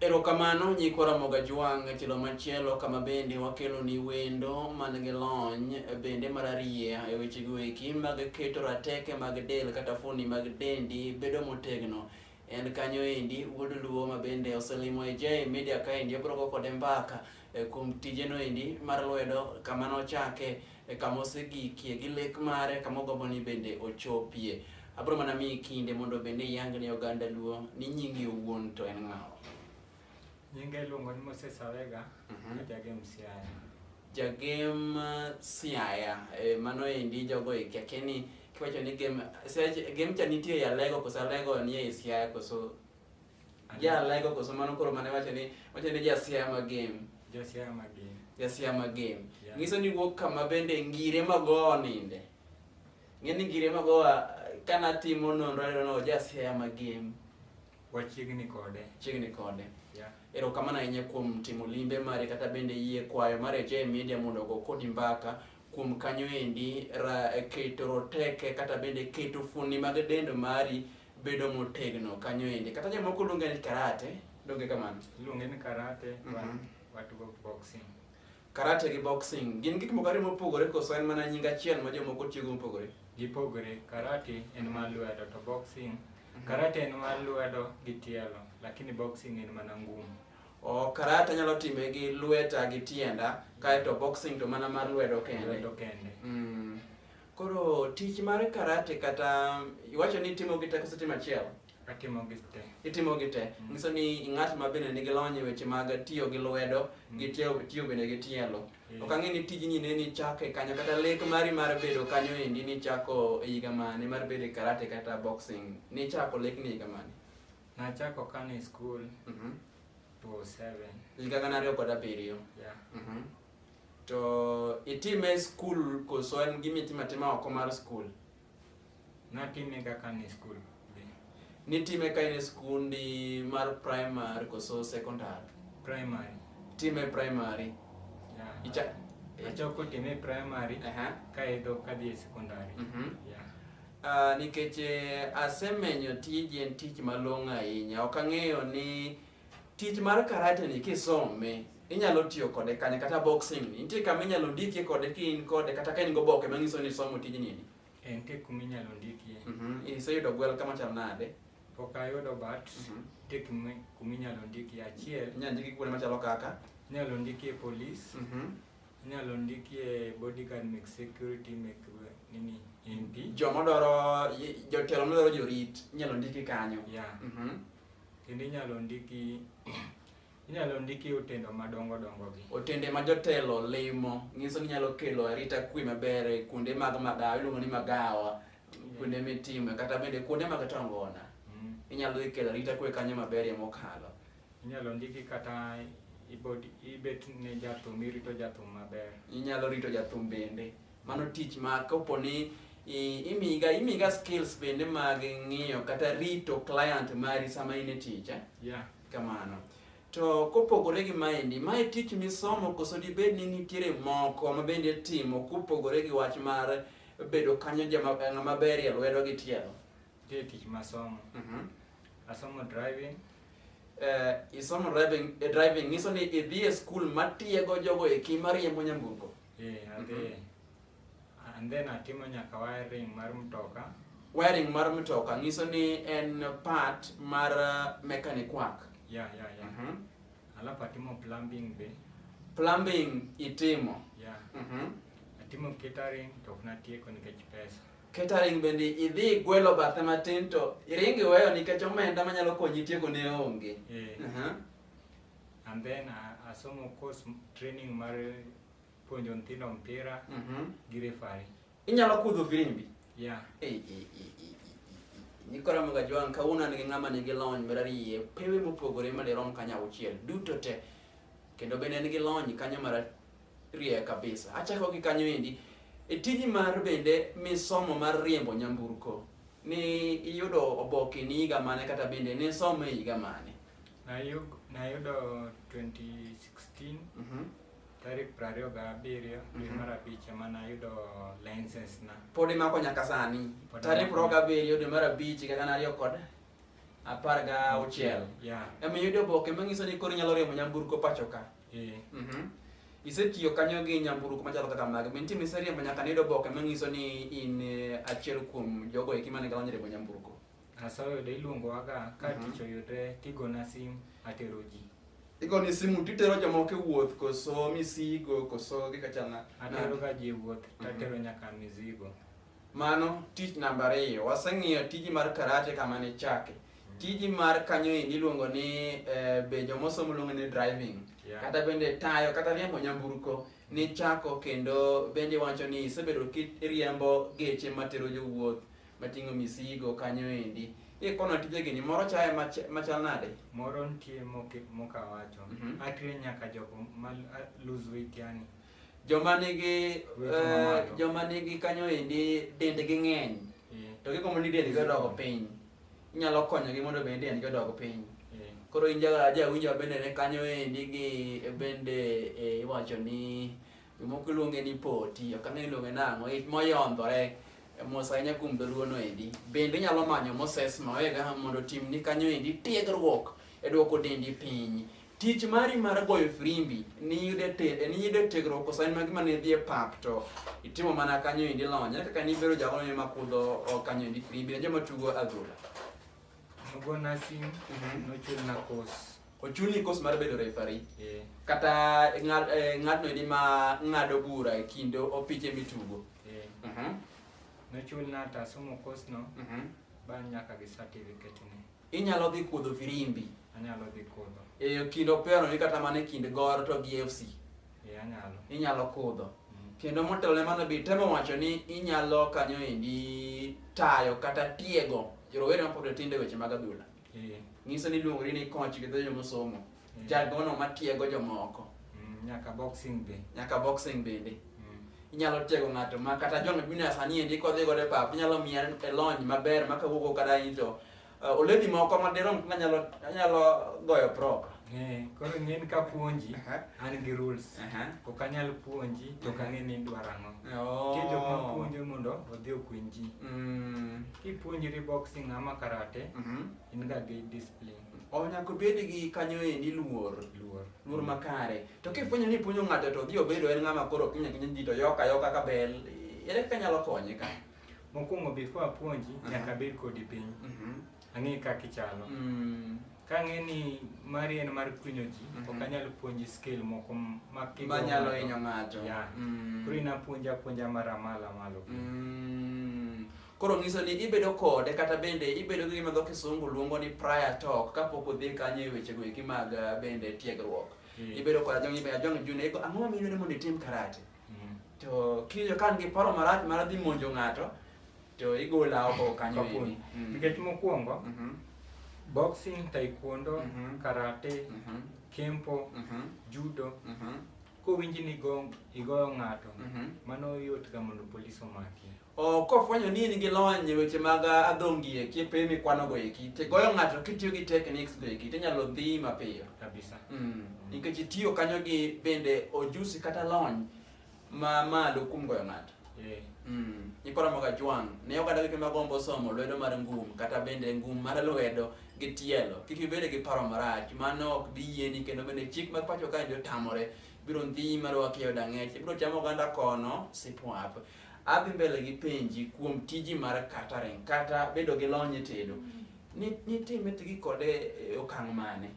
Erokamano nyikwa Ramoga Jwang' e tielo machielo kama bende wakeloni wendo man gi lony bende mararieya e wechego eki mag keto rateke mag del kata fuoni mag dendi bedo motegno. En kanyo endi wuod Luo ma bende oselimo e J Media kaendi obrogo kode mbaka e, kuom tijeno endi mar lwedo kama nochake e kama osegikie gi lek mare kama ogombo ni bende ochopie. Abro mana miyi kinde mondo bende iyang ne oganda Luo ni nyingi owuon to en ng'awa. Nyinga iluongo ni Moses Awega, Mhm. ajagem Siaya. Jagem uh, Siaya, e, mano endi jogo e kia kia ni kiwacho ni gem, Siaya- gem cha nitie e Alego koso Alego nie e Siaya koso Ajalego koso mano koro mane wacho ni wacho ni jasia ma game. Jasia ma game. Jasia ma game. Yeah. Ngiso ni wuok kama bende ngire mago ninde. Ngeni ngire mago kana timo nonro no no jasia ma game. Wachiegni kode. Chiegni kode. Yeah. Erokamano ahinya kuom timo limbe mare kata bende yie kwayo mare J Media mondo ogo kodi mbaka kuom kanyo endi ra, keto roteke kata bende keto fuoni mag dend mari bedo motegno kanyo ende kata jomoko luonge ni karate donge kamano luonge ni karate mm -hmm. watugo boxing karate gi boxing gin gik moko ariyo mopogore koso en mana nying achiel ma jomoko tiyogo mopogore gipogore karate en mar lwedo to boxing mhm. karate en mar lwedo gi tielo lakini boxing en mana ngumu o karate anyalo time gi lweta gi tienda kaeto boxing to mana mar lwedo kende lwedo kende mm. Koro tich mar karate kata iwacho ni itimo gi teko sitima achiel? Atimo gi te. Itimo gi te. Mm. Nyiso ni ing'at ma bende nigi lony e weche mag tiyo gi lwedo mm. gi tiyo, tiyo bende gi tielo. Yeah. Ok ang'e ni tijni ne nichako e kanyo kata lek mari mar bedo kanyo endi nichako e higa mane mar bedo e karate kata boxing. Nichako lek ni e higa mane? Nachako kane e skul. Mm -hmm. 2007. Higa gana ariyo kod abiriyo. Yeah. Mm -hmm. To itime skul koso en gima itimo atima oko mar skul? Natime kaka ni skul. Nitime ka in e skundi mar primary koso secondary? Primary. Time primary? Yeah. Icha achako time primary uh -huh. kaeto kadhi e secondary. Mm -hmm. yeah. Uh, nikech eh, asemenyo tiji en tich malong'o ahinya. Ok ang'eyo ni Tich mar karate ni kisome inyalo tiyo kode kanye kata boxing ni nitie kama inyalo ndikie kode ka in kode kata ka in go boke manyiso ni isomo tijni ni Eh, nitie kuma inyalo ndikie Mhm, iseyudo gwel kama chal nade pok ayudo but Mhm. nitie kuma kuma inyalo ndikie achiel inyalo ndiki kuonde machalo kaka inyalo ndikie police Mhm. inyalo ndikie bodyguard mek security mek eh, nini mp joma dwaro jotelo madwaro jorit inyalo ndiki kanyo yeah Mhm. kendo inyalo ndiki inyalo ndiki otendo madongo dongo gi otende ma jotelo limo nyiso ni nyalo kelo arita kwe maber e kuonde mag magawa iluongo ni magawa kuonde mitime kata bende kuonde mag tongona mm. inyalo dhi kelo arita kwe kanyo maberie mokalo inyalo ndiki kata ibet ne jathum irito jathum maber inyalo rito jathum bende Mano tich ma kopo ni imiga imiga skills bende mag ng'iyo kata rito client mari sama in e tich eh? yeah. kamano to kopogore gi maendi mae tich misomo koso dibed ni nitiere moko ma bende timo kopogore gi wach mar bedo kanyo jama maber e lwedo gi tielo Nitie tich masomo. Mhm. Asomo driving. Eh, isomo driving, eh, driving nyiso ni idhi e skul matiego jogo eki mariembo nyamburko. Eh, adhi. Mhm. And then atimo nyaka wiring mar mtoka. Wiring mar mtoka nyiso ni en part mar uh, mechanic work. Yeah, yeah, yeah. Mhm. Alafu atimo plumbing be. Plumbing itimo. Yeah. Mhm. Atimo catering to ok natieko nikech pesa. Catering bende idhi igwelo bathe matin to iring iweyo nikech omenda manyalo konyi tieko ne onge. Eh. Aha. And then a- asomo course m- training mar puonjo nyithindo mpira Mhm. gi refari. Inyalo kudho firimbi. Yeah. Eh, eh, eh, eh, eh, eh. Nikora mga jwang kawuono an gi ng'ama nigi lony marariye pewe mopogore madirom kanyo auchiel duto te kendo bende en gi lony kanyo mara riek kabisa. Achako gi kanyo endi e tiji mar bende misomo mar riembo nyamburko ni iyudo oboke ni higa mane kata bende ne somo e higa mane? Nayudo 2016 mm -hmm. tarik prariyo ga abiriyo dwe mm -hmm. mar abich ema nayudo license na. Pod imako nyaka sani. Tarik prariyo ga abiriyo dwe mar abich higa gana ariyo kod apar ga auchiel. Yeah. Ema iyudo oboke manyiso ni koro inyalo riembo nyamburko pacho ka. Eh. Mhm. Isetiyo kanyo gi nyamburko machalo kaka mage, be nitie miseriembo nyaka niyud oboke manyiso ni in eh, achiel kuom jogo eki mane galony riembo nyamburko? Asa oyudo iluongowaga ka Mhm. tich oyudre tigona sim atero ji. Igoni simu titero jomoko e wuoth koso misigo koso gikachana? Ateroga ji e wuoth Mhm. tatero nyaka mizigo. Mano tich namba ariyo. Waseng'iyo tiji mar karate kama ne chake. Tiji mar kanyo endi iluongo ni eh, be jomosomo luongo ni driving. Yeah. Kata bende tayo kata riembo nyamburko nichako kendo bende wacho ni isebedo kiriembo geche matero jowuoth mating'o misigo kanyo endi. Ikono tije gini moro chaye mach- machal nade? Moro nitie moke- mokawacho Mhm. atrain nyaka jok ma lose weight yani joma nigi eh, joma nigi kanyo endi dendgi ng'eny eh. to gigombo ni dendgi odog piny inyalo konyogi mondo bende dendgi odog piny eh. koro in jawinjo bende ne kanyo endi gi bende iwacho ni jomoko iluonge ni poti ok ang'e iluonge nang'o it moyondhore mos ahinya kuom dholuono endi bende inyalo manyo moses mawega mondo otimni kanyo endi tiegruok e dwoko dendi piny Tich mari mar goyo frimbi niyude te niyude tegro kosa en magima ne dhie pap to itimo mana kanyo indi lony ne kaka nibero jalo ne makudho o kanyo indi frimbi ne joma tugo adhula Nogo nursing, nochul na course. ochuni kos mar bedo refari Eh, kata ng'ad- eh, ng'atno indi ma ng'ado bura e kind opiche mitugo eh. Mhm, Nochul na tasomo course no, mhm. ba nyaka gi certificate ni. Inyalo dhi kuodho firimbi. Anyalo dhi kuodho. E kind operoni kata mana e kind goro to gi FC. E anyalo. Inyalo kuodho. Mm. Kendo motelo ne mano bi temo wacho ni inyalo kanyo endi tayo kata tiego rowere mapod tindo e weche mag adhula. E. Nyiso ni iluongori ni koch gi dho jomosomo. Mm. Jagono matiego jomoko. Mm, nyaka boxing be. Nyaka boxing bende. Mm. Inyalo tiego ng'ato ma kata John Junior sani endi kodhi godo e pap, inyalo miya e lony maber ma kawuok kata in to uh, oledi moko ma dirom kuma nyalo anyalo goyo prop. Eh, koro ng'en ka puonji an gi rules. Ok anyal puonji to ka ng'en ni idwaro ang'o. Oh. Nitie jok ma puonjo mondo odhi okuny ji. Mm. Kipuonjri boxing ama karate, mhm. in ga gi discipline. o nyaka obed gi kanyo endi luor luor luor makare to kifwenyo ni puonjo ng'ato to odhi obedo en ng'ama koro kinya kinya ji to yoka yoka ka bel ere kaka nyalo konye ka mokwongo before apuonji Aha. nyaka abed kodi piny Mhm. ang'e kaka ichalo Mm. ka ang'e ni mari en mar kwinyo ji Mhm. ok anyal puonji skill moko m- ma kigo ma nyalo ng'ato. hinyo ng'ato Yeah. Mm. koro inapuonja apuonja mara malo malo Mm. Koro nyiso ni ibedo kode kata bende ibedo gi gima dho kisungu luongo ni prior talk kapok odhi kanyo e weche go eki mag eh, bende tiegruok. Mm. Ibedo kod ajong ibe ajong june iko ang'o ma yudore mondo itim karate. Mm. To kiyo kan gi paro marach mar dhi monjo ng'ato to igola oko kanyo eni. Mm. Nikech mokwongo mm -hmm. boxing, taekwondo, mm -hmm. karate, mm -hmm. kempo, mm -hmm. judo, mm -hmm. kowinji ni igoyo ng'ato mm -hmm. mano yot ga mondo polis omaki. Kofwenyo ni in gi lony e weche mag adhongi eki, piny mikwanogo eki, to igoyo ng'ato kitiyo gi techniques go eki, to inyalo dhi mapiyo. Kabisa. Mm. Nikech itiyo kanyo gi bende ojusi kata lony ma malo kuom goyo ng'ato. Eh. Mm. Ikoromoga jwang'. Ne oganda gi kema gombo somo lwedo mar ngum kata bende ngum mar lwedo gi tielo. Kik ibed gi paro marach, mano ok bi yieni kendo bende chik mar pacho kae otamore biro ndhi marwa kiyo dang'ech ibiro chamo oganda kono sipwap adhi mbele gi penji kuom tiji mar catering kata bedo gi lony e tedo nitime tigi kode e okang' mane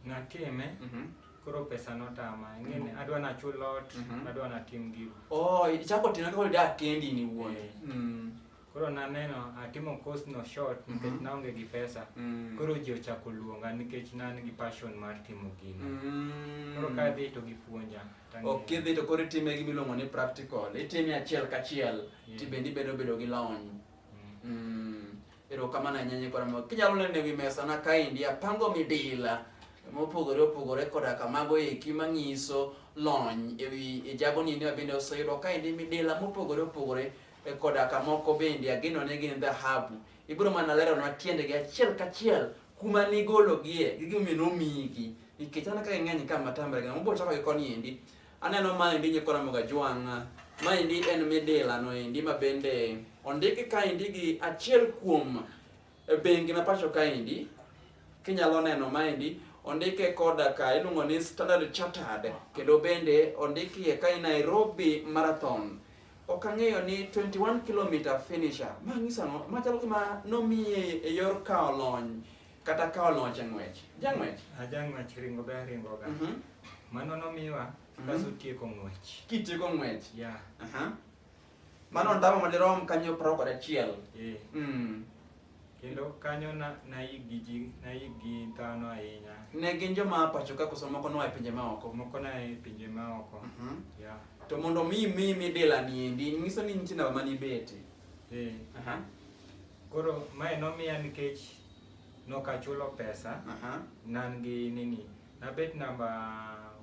natime mhm. koro pesa notama ngene mhm. adwa nachul lot mhm. adwa natim gigo oh ichako timo koro dak kendi ni wuon eh. mm. Koro naneno atimo course no short nikech mm -hmm. naonge gi pesa. Mm. Koro ji ochako luonga nikech nan gi passion mar timo gino. Mm. Koro ka dhi to gipuonja. Ok idhi to koro itime gima iluongo ni practical. Itime achiel kachiel yeah. to bende ibedo bedo gi lony. Mm. Mm. Erokamano ahinya nyikora ma kinyalo neno ewi mesa na kaendi apango midila mopogore opogore koda kamago eki manyiso lony ewi ijagoni ni wabende oseyudo kaendi midila mopogore opogore e koda ka moko bende agenone gin dhahabu. Ibiro mana leronwa tiendegi achiel kachiel kuma nigologie gi gimomiyo nomiyigi nikech aneno ka ging'eny ka matamre gina mobiro chako gi koni endi aneno ma endi nyikwa Ramogi Ajwang' ma endi en midila no endi ma bende ondiki ka endi gi achiel kuom E bengi ma pacho kaendi, kinyalo neno maendi, ondike koda ka iluongo ni Standard Chartered kendo bende ondikie ka i Nairobi Marathon. Ok ang'eyo ni 21 kilomita finisher, ma ng'iso ang'o? Ma chalo gima nomiye e yor kawo lony kata kawo loch e ng'wech. Jang'wech? Ajang'wech ringo be aringoga. Mhm. Mano nomiwa Mhm. kaso tieko ng'wech. Kitieko ng'wech. Yeah. Aha. Mano ndamo madirom kanyo prao kod achiel. Eh. Mm. Kendo kanyo na nayik gi ji nayik gi dhano ahinya. Ne gin joma pacho ka koso moko noa e pinje maoko. Moko na e pinje maoko. Mm -hmm. Yeah. To mondo mi mi mi dela ni endi nyiso ni nitie namba mani beti. Eh. Uh -huh. Koro mae nomiya nikech nokachulo pesa. Uh -huh. Nan gi nini. Nabet namba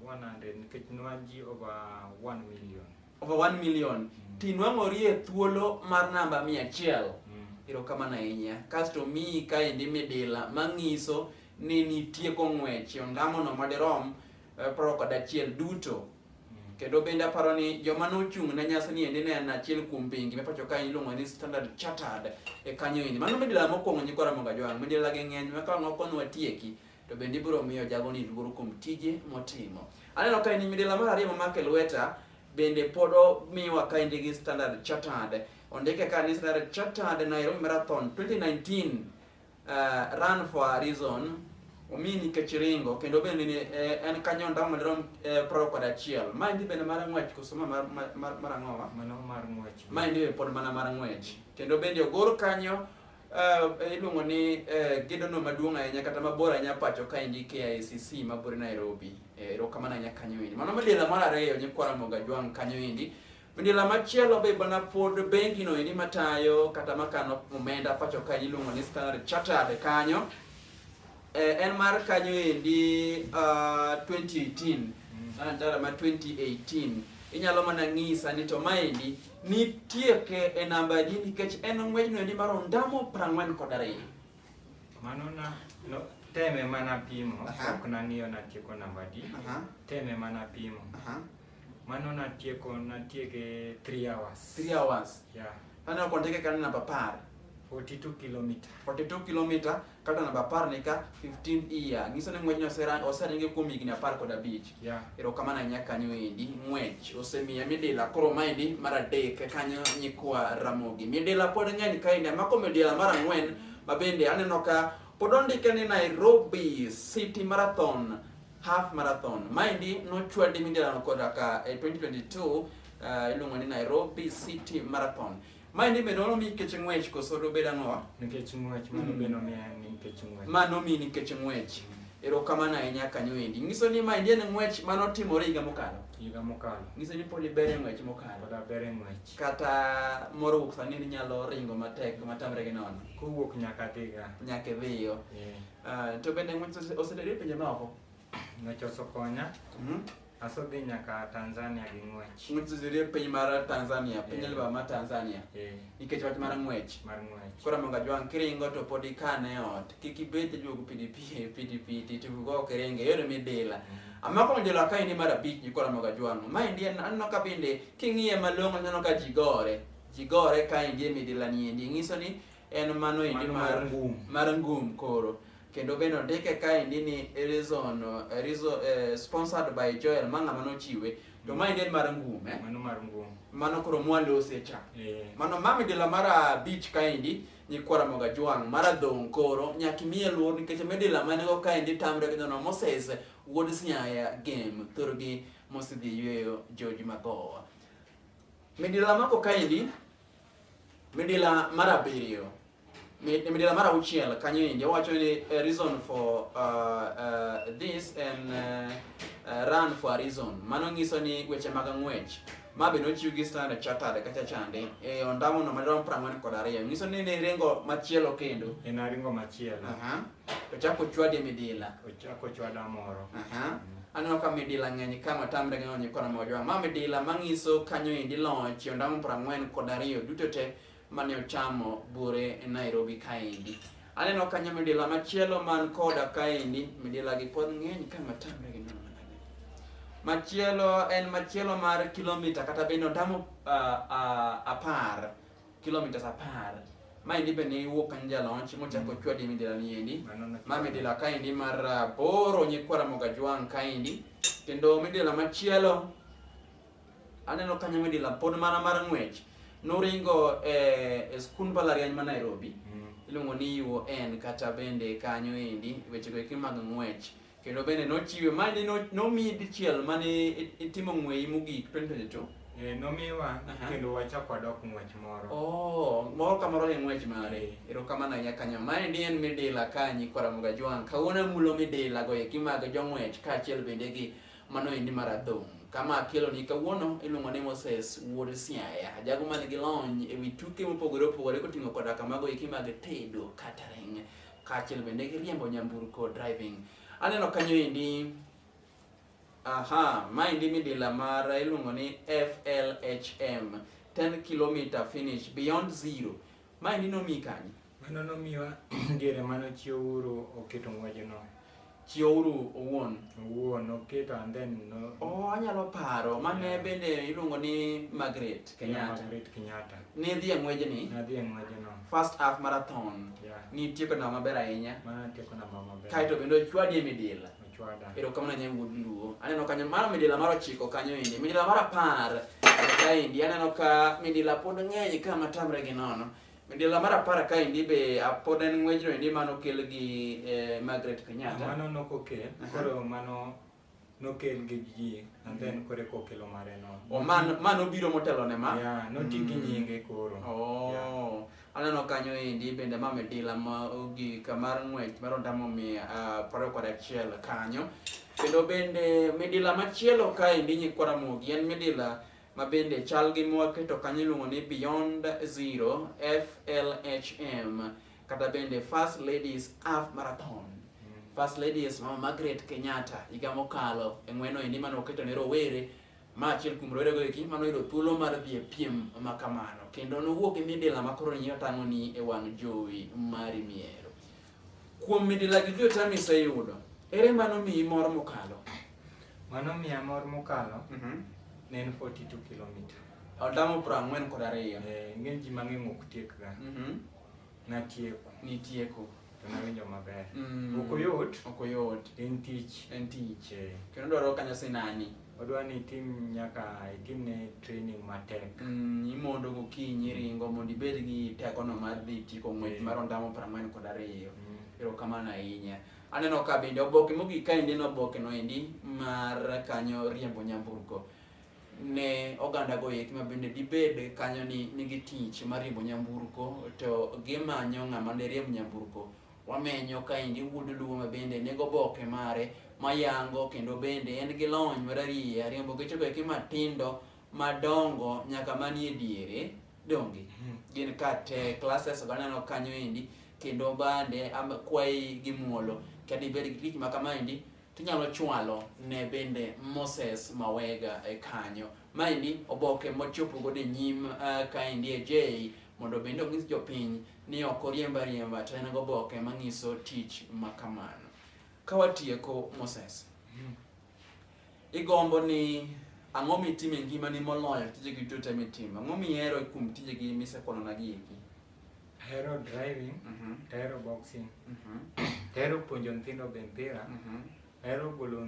100 nikech nwan ji over 1 million. over 1 million mm. tinwang'ori e thuolo mar namba 100 mm. erokamano ahinya kasto miyi kaendi midila mang'iso ni nitie kong'wech ondamono madirom e, proro kod achiel duto mm. kendo bende aparo ni joma nochung' ne nyasi ni endi ne en achiel kuom bengi me pacho kae iluongo ni standard chartered e kanyo endi mano midila mokwongo nyikora mongajwang' midila gi ng'eny makawango konwa tieki to bende ibiro miyo jagoni luor kuom tije motimo. Aneno ka in midila mar ariyo mamake lweta bende pod omiwa ka indigi Standard Chartered. Ondike ka ni Standard Chartered Nairobi Marathon 2019 uh, run for a reason omi nikech ringo kendo bende ni eh, en kanyo ndamo dirom eh, proro kod achiel ma endi bende mar ng'wech koso ma mar, mar, mar, mar ang'owa mano mar ng'wech ma endi be pod mana mar ng'wech kendo bende ogor kanyo Uh, iluongo ni uh, gedono maduong' ahinya kata mabor ahinya pacho ka endi KICC mabor Nairobi. Eh, erokamano uh, ahinya kanyo endi. Mano midila mar ariyo nyikwa Ramogi Ajwang' kanyo endi. Midila machielo be bana pod bengi no endi matayo kata makano omenda pacho ka iluongo ni Standard Chartered kanyo. Eh, en mar kanyo endi uh, 2018 antara ma 2018 inyalo mana ng'isa ni to maendi nitie ke e namba di nikech en ng'wejno endi mar ondamo prang'wen kod ariyo mano na no, teme mana pimo Aha. ok nang'iyo natieko namba di Aha. teme mana pimo Aha. mano natieko natieke 3 hours 3 hours yeah. aneno konteke kanyo namba par 42 kilometer 42 kilomita kata namba apar ni ka 15 year nyiso ni ng'wejno oseringe kuom higni apar kod abich yeah. erokamano ahinya kanyo endi ng'wech osemiya midila koro maendi mar adek kanyo nyikwa ramogi midila pod ng'eny kaendi amako midila mar ang'wen mabende aneno ka pod ondike ni nairobi city marathon half marathon maendi nochwadi midilano koda ka e 2022 uh, iluongo ni nairobi city marathon Mae ni be nolomi nikech ng'wech koso dobed ang'owa? Nikech ng'wech, mano be nomiye nikech ng'wech. Ma nomi nikech ng'wech. Erokamano ahinya kanyo endi. Nyiso ni ma endi en ng'wech ma notimore higa mokalo. Higa mokalo. Nyiso ni pod ibere ng'wech mokalo. Pod abere ng'wech. Kata moro wuok sani ni nyalo ringo matek matamre gi nono. Kowuok nyaka dhiga. Nyaka idhiyo. Yeah. Uh, to bende ng'wech osedere pinje maoko? Nochoso konya. Mhm. Asedhi nyaka Tanzania gi ng'wech. Ng'utsuzire piny mar Tanzania, piny Eh. alba mar Tanzania. Eh, Nikech wach mar ng'wech. mar ng'wech. Koro mondo ajwang' kiringo to pod ikane e ot. Kik ibed ijuogo pidipie pidipiti to go ok iringe. Yore midila. Amako mjolo ka ini mar abich ni koro mondo ajwang'. Ma endi en- aneno ka bende king'iye malong'o aneno ka ji gore. Ji gore ka endi e midila ni endi. Ng'iso ni en mano endi mar ngum mar ngum koro kendo bende ondike kaendi ni reason, eh, reason eh, sponsored by Joel ma ng'ama nochiwe to ma endi en mar ngum eh? mano mar ngum mano koro mwalose cha yeah. mano mami dila mara beach kaendi nyikwara moga jwang mara dhong koro nyaki miye luor nikech midila mane go kaendi tamre gi jono Moses wuod Sinyaya game thurgi mosidhi yweyo George Magowa midila mako kaendi Midila mar abiriyo midila mar auchiel kanyo endi owacho ni a reason for uh, uh, this and uh, uh, run for a reason. Mano nyiso ni weche mag ng'wech ma be nochiw gi Standard Chartered kacha chande e ondamo no madirom prang'wen kod ariyo nyiso ni ne ringo machielo kendo. En aringo machielo. Uh -huh. Ochako chwadi midila. Ochako chwada moro. Aha. Mm. Aneno ka midila ng'eny ka matamre ng'eny onye kora mojwa. Ma midila mang'iso kanyo indi loch ondamo prang'wen kod ariyo duto te mane ochamo bure e Nairobi kaendi. Aneno kanyo midila machielo man koda kaendi, midila gi pod ng'eny ka matamre gi nono machielo en machielo mar kilomita kata bende ondamo uh, uh, apar kilometers apar maendi be ne iwuok kanye jalonch mochako mm. chwadi midilani endi ma midila kaendi mar ah, boro nyikwara mogajwang' kaendi kendo midila machielo aneno kanyo midila pod mana mar ng'wech noringo eh, e skund mbalariany ma nairobi mm. iluongo ni uon kata bende kanyo endi wechego eki mag ng'wech Kendo bende nochiwe, ma ni no- nomiyi dichiel ma ne i- itimo ng'weyi mogik 2022. Eh, nomiwa Aha. kendo wachako wadok ng'wech moro Oh, moro ka moro gi ng'wech mare. Erokamano ahinya kanyo. Maendi en midila ka nyikwa Ramogi Ajwang'. Kawuono amulo midila go eki mag jong'wech kaachiel bende gi mano endi mar adhong'. Kama akeloni kawuono iluongo ni Moses Wuod Siaya. Jago man gi lony e wi tuke mopogore opogore koting'o koda kamago eki mag tedo catering. kaachiel bende gi riembo nyamburko driving. Aneno kanyo endi aha, maendi midila mar iluongo ni FLHM 10 km finish beyond zero. Maendi nomi kanye? Mano nomiwa diere mano chiwo uru oketo ng'wejono. Chieuru owuon. Owuon, oketa and then no. Oh, anyalo paro. Mane yeah. bende iluongo ni Margaret Kenyatta. Yeah, Margaret Kenyatta. Ni dhi e ng'weje ni? Na dhi e ng'weje no. First half marathon. Yeah. Ni tieko na maber ahinya. Ma tieko na maber. Kaito bende ochwadi e midila. Ochwada. Ero kamano nyai wuod luo. Aneno kanyo mara midila mar ochiko kanyo indi. Midila mar apar. Kaindi aneno ka midila pod ng'eny ka matamre gi nono. Midila mar apar kaendi be pod en ng'wejno endi mano okel gi eh, Margaret Kenyatta. Mano nokokel, koro mano nokel gi ji and then mm-hmm. kore kokelo mare no. O oh, man man obiro motelo ne ma. Yeah, noti gi mm. nyinge koro. Oh. Yeah. Aneno kanyo endi bende ma midila ma ogi kamar ng'wech mar ondamo mi ah, paro kod achiel kanyo. Kendo bende midila machielo kaendi nyikwara mogi en midila ma bende chal gi mwaketo kanyo iluongo ni Beyond Zero FLHM kata bende First Ladies Half Marathon. Mm. First Ladies Mama Margaret Kenyatta higa mokalo e ng'weno endi mane oketo ne rowere ma achiel kuom rowerego eki mano yudo thuolo mar dhi e piem ma kamano kendo nowuok gi midila ma koro nyinyo tang'oni e wang' jowi mari miero Kuom midila gi jota miseyudo, ere mano miyi mor mokalo? Mano miya mor mokalo Mhm. ne en 42 kilomita. Adamo piero ang'wen kod ariyo. Eh, Ng'eny ji mang'eny ok tiekga. Mhm. Natieko Nitieko. to nawinjo maber. Mm. Ok oyot, Ok oyot. en tich. En tich. Eh. Kendo dwaro kanyo sinani. odwa ni itim nyaka itimne training matek mm, imondo gokinyi ringo mondo ibed gi tekono mar dhi tiko ng'wech mar ondamo piero ang'wen kod ariyo mm. erokamano ahinya aneno ka bende oboke mogik ka endi en oboke no endi mar kanyo riembo nyamburko ne oganda go eki ma bende dibed kanyo ni nigi tich mar riembo nyamburko to gimanyo ng'ama ne riemb nyamburko Wamenyo kaendi wuod Luo ma bende nego oboke mare mayango kendo bende en gi lony marariye ariembo gechego eki matindo madongo nyaka manie diere donge hmm. gin kate classes ganeno kanyo endi kendo bande kwayi gi muolo kadibed gi tich ma kamaendi tinyalo chwalo ne bende Moses Mawega e kanyo. Maendi oboke mochopo godo e nyim uh, kaendi e J mondo bende onyis jopiny ni ok oriemb ariemba to en goboke manyiso tich ma kamano. Ka watieko Moses, igombo ni ang'o mitimo e ngimani moloyo tije duto te mitimo? Ang'o mihero kuom tijegi misekwanona gi eki? Ahero driving, Mhm, to ahero boxing, mhm, to ahero puonjo nyithindo be mpira, mhm. ahero golo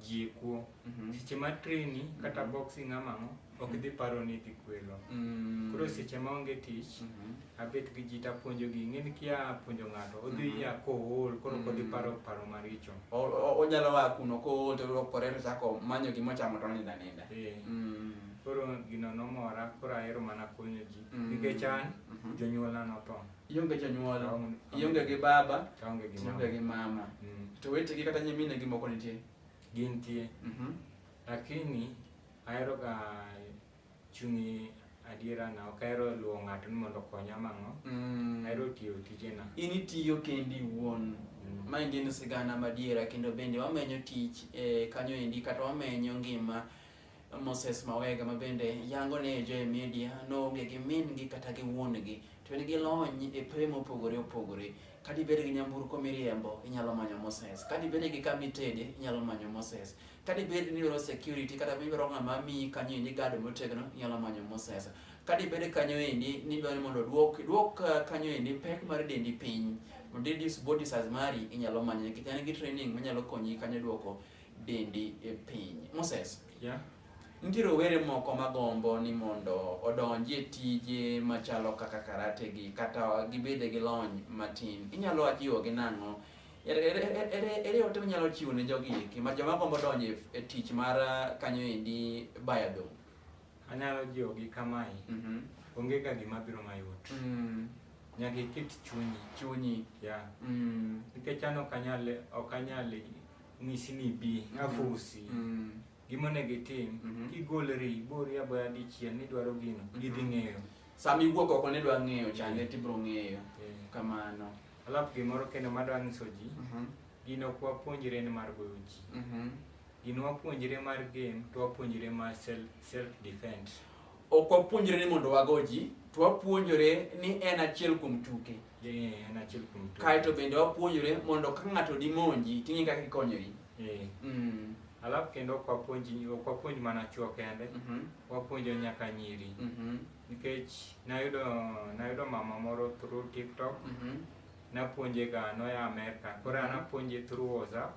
jikwo Mhm. seche ma treni kata Mhm. boxing ama ang'o ok dhi paro ni dhi kwelo Mm. koro seche ma onge tich Mhm. abet gi ji tapuonjogi ing'eni kia puonjo ng'ato odhi Mhm. ya kool koro ok odhi Mm. paro paro maricho O- o- onyalo wa kuno ko to lokore to chako manyo gima ochamo to onindo aninda Eh, Mm. koro gino nomora koro ahero mana konyo ji Mm. nikech an Mhm. jonyuolna notho ionge jonyuol ionge gi baba ionge gi mama mm. to wetegi kata nyimine gi moko nitie gintie mm -hmm. lakini aheroga chunyi adiera na ok ahero luwo ng'ato ni mondo okonya mang'o mm. ahero tiyo tijena in itiyo kendi iwuon mm. ma en sigana madiera kendo bende wamenyo tich eh, kanyo endi kata wamenyo ngima Moses Mawega ma bende yango ni e Joy Media noonge gi min-gi kata gi wuon-gi to en gi lony e pewe mopogore opogore. Ka dibed gi nyamburko miriembo, inyalo manyo Moses. Ka dibed gi kama itede, inyalo manyo Moses. Ka dibed ni idwaro security kata idwaro ng'ama miyi kanyo endi guard motegno, inyalo manyo Moses. Ka dibed kanyo endi ni idwaro ni mondo duok duok eh, kanyo endi pek mar dendi piny, mondo reduce body size mari, inyalo manye nikech en gi training manyalo konyi kanyo duoko dendi e piny. Moses. Yeah. Nitie rowere moko magombo ni mondo odonji e tije machalo kaka karate gi kata gibede gi lony matin. Inyalo ajiwo gi nang'o? Ere ote minyalo chiwo ne jogi eki ma joma gombo donjo e tich mar uh, kanyo endi baya dong'? Anyalo jiwo gi kamae. Mm-hmm. Onge ka gima biro mayot. Mm. Nyaka iket chunyi. Chunyi. Yeah. Mm. Nikech an ok anyal ok anyal nyisi ni bi afosi mm. gima onego itim mhm. kigolri ibori aboya dichiel nidwaro gino mhm. gidhi ng'eyo sama iwuok oko nidwa ng'eyo chande tibro ng'eyo kamano alafu gimoro kendo madwa nyiso ji mhm. gino ok wapuonjre ni mar goyo ji gino wapuonjre mar game to wapuonjre mar self defense ok wapuonjre ni mondo wago ji to wapuonjre ni en achiel kuom tuke kaeto bende wapuonjore mondo ka ng'ato dimonji ting'e kaka ikonyori eh. mm. alafu kendo ok wapuonj mana chuo kende mhm. wapuonjo nyaka nyiri mhm. nikech nayudo nayudo mama moro through tiktok mhm. napuonje ga noya amerka koro anapuonje through whatsapp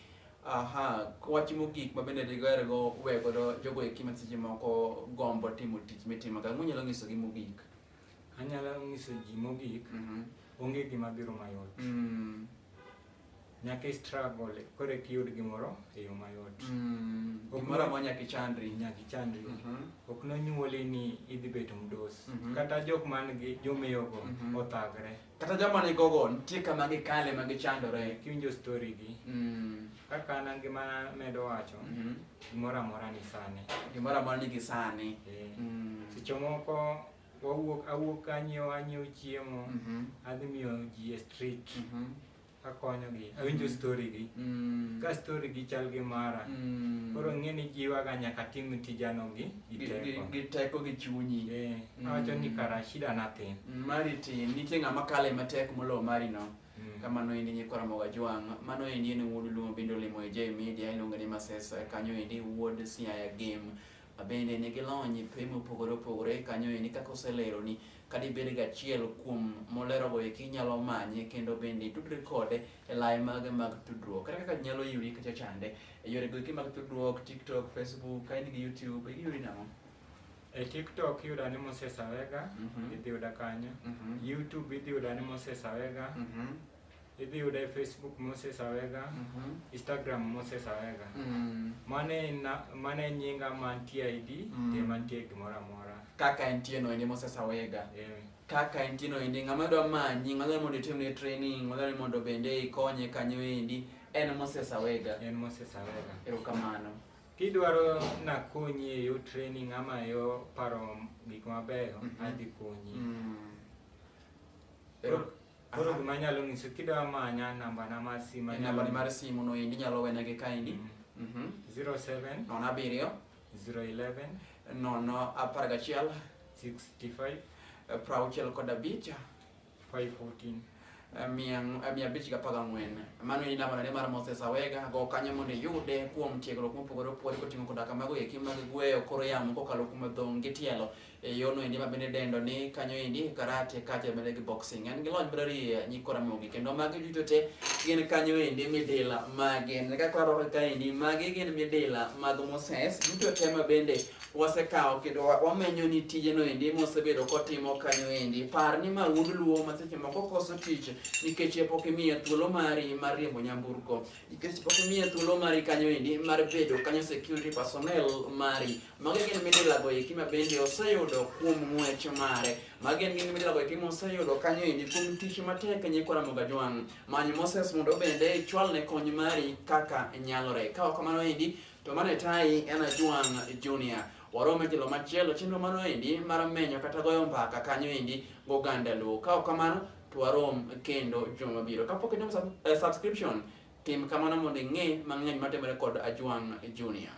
Aha, wach mogik ma bende digoer go we godo jogo eki ma seche moko gombo timo tich mitimo ka munyalo nyiso gi mogik. Anyalo nyiso ji mogik mm -hmm. onge gima biro mayot. Mm. Nyaka i struggle kore ki yud gimoro e yo mayot. Mm. Gimoro ma nyaka ichandri. Nyaka ichandri. Mm -hmm. Ok nonyuoli ni idhi bedo mdos. Mm -hmm. Kata jok man gi jomeyo go mm -hmm. othagre. Mm -hmm. kata joma ni gogo nitie kama gikale ma gichandore kiwinjo story gi mm. kaka an ngima medo wacho mm -hmm. gimoro amora ni sani gimoro amora ni gisani yeah. mm. seche moko wawuok awuok anyiewo anyiewo chiemo mm -hmm. adhi miyo ji e street mm -hmm. akonyogi awinjo story gi Mm. ka story gi chal gi mara Mm. koro ng'e ni jiwaga nyaka tim tijano gi gi Gi- gi- teko gi teko gi chunyi Eh, Mm. awacho ni kara shida natin Mm, mari tin nitie ng'ama kale matek moloyo mari no Mm. kamano endi nyikora moga jwang' mano endi en wuod luo bende olimo e j media iluonge ni masesa kanyo endi wuod siaya game Bende ne gilony pe mopogore opogore kanyo eni kaka oseleroni kadibed gachiel kuom molerogo eki inyalo manye kendo bende itudri kode e laye mage mag tudruok kata kaka nyalo yudi kacha chande e yorego eki mag tudruok tiktok facebook ka in gi youtube iyudi nang'o e tiktok iyuda ni moses awega Mhm. idhi yuda kanyo Mhm. youtube idhi yuda ni moses awega Mhm. If you dey Facebook Moses Awega, mm -hmm. Instagram Moses Awega. Mm. Mane na mane nyinga mantie ID, mm. te mantie gimoro amora. Kaka entie no ende Moses Awega. Yeah. Kaka entie no ende ng'ama dwa manyi, ng'ama dwa mondo itimne training, ng'ama dwa mondo bende ikonye kanyo endi en Moses Awega. En Moses Awega. Erokamano. Kidwaro nakonyi e yo training ama e yo paro gik mabeyo, mm -hmm. adhi konyi. Mm. Ero Koro gima anyalo nyiso kidwa manya namba na mar simo. Namba ni mar simo no endi nyalo wena gi kaendi. Mm. Mhm. 07 nono abiriyo 011 nono apar gachiel 65 eh, prauchiel kod abich 514 eh, mia eh, mia abich gapar gang'wen mano en namba nade mar moses awega go kanyo mondo iyude kuom tiegruok mopogore opogore koting'o koda kamago eki mag gweyo koro yamo kokalo kuom dhong' gi tielo e yono endi ma bende dendo ni kanyo endi karate kata bende gi boxing en gi lony mar rie nyikora mogi kendo magi duto te gin kanyo endi midila magi ne kaka waro ka endi magi gin midila mag Moses duto te ma bende wasekawo kendo wamenyo ni tije no endi mosebedo kotimo kanyo endi par ni ma wuod luo ma seche moko koso tich nikech e pok imiye thuolo mari mar riembo nyamburko nikech pok imiye thuolo mari kanyo endi mar bedo kanyo security personnel mari Magi gin midila goeki ma bende oseyudo kuom ng'wech mare. Magi gin midila goeki ma oseyudo kanyo endi kuom tich matek nyikwa Ramogi Ajwang'. Many Moses mondo bende ichwalne kony mari kaka nyalore. Ka ok kamano endi to mane tayi en Ajwang' Junior. Warome kilo machielo chenro mano endi mar menyo kata goyo mbaka kanyo endi goganda Luo. Ka ok kamano to warom kendo juma mabiro. Kapok inyalo sub, eh, subscription tim kamano mondo ing'e mang'eny matimore kod Ajwang' Junior.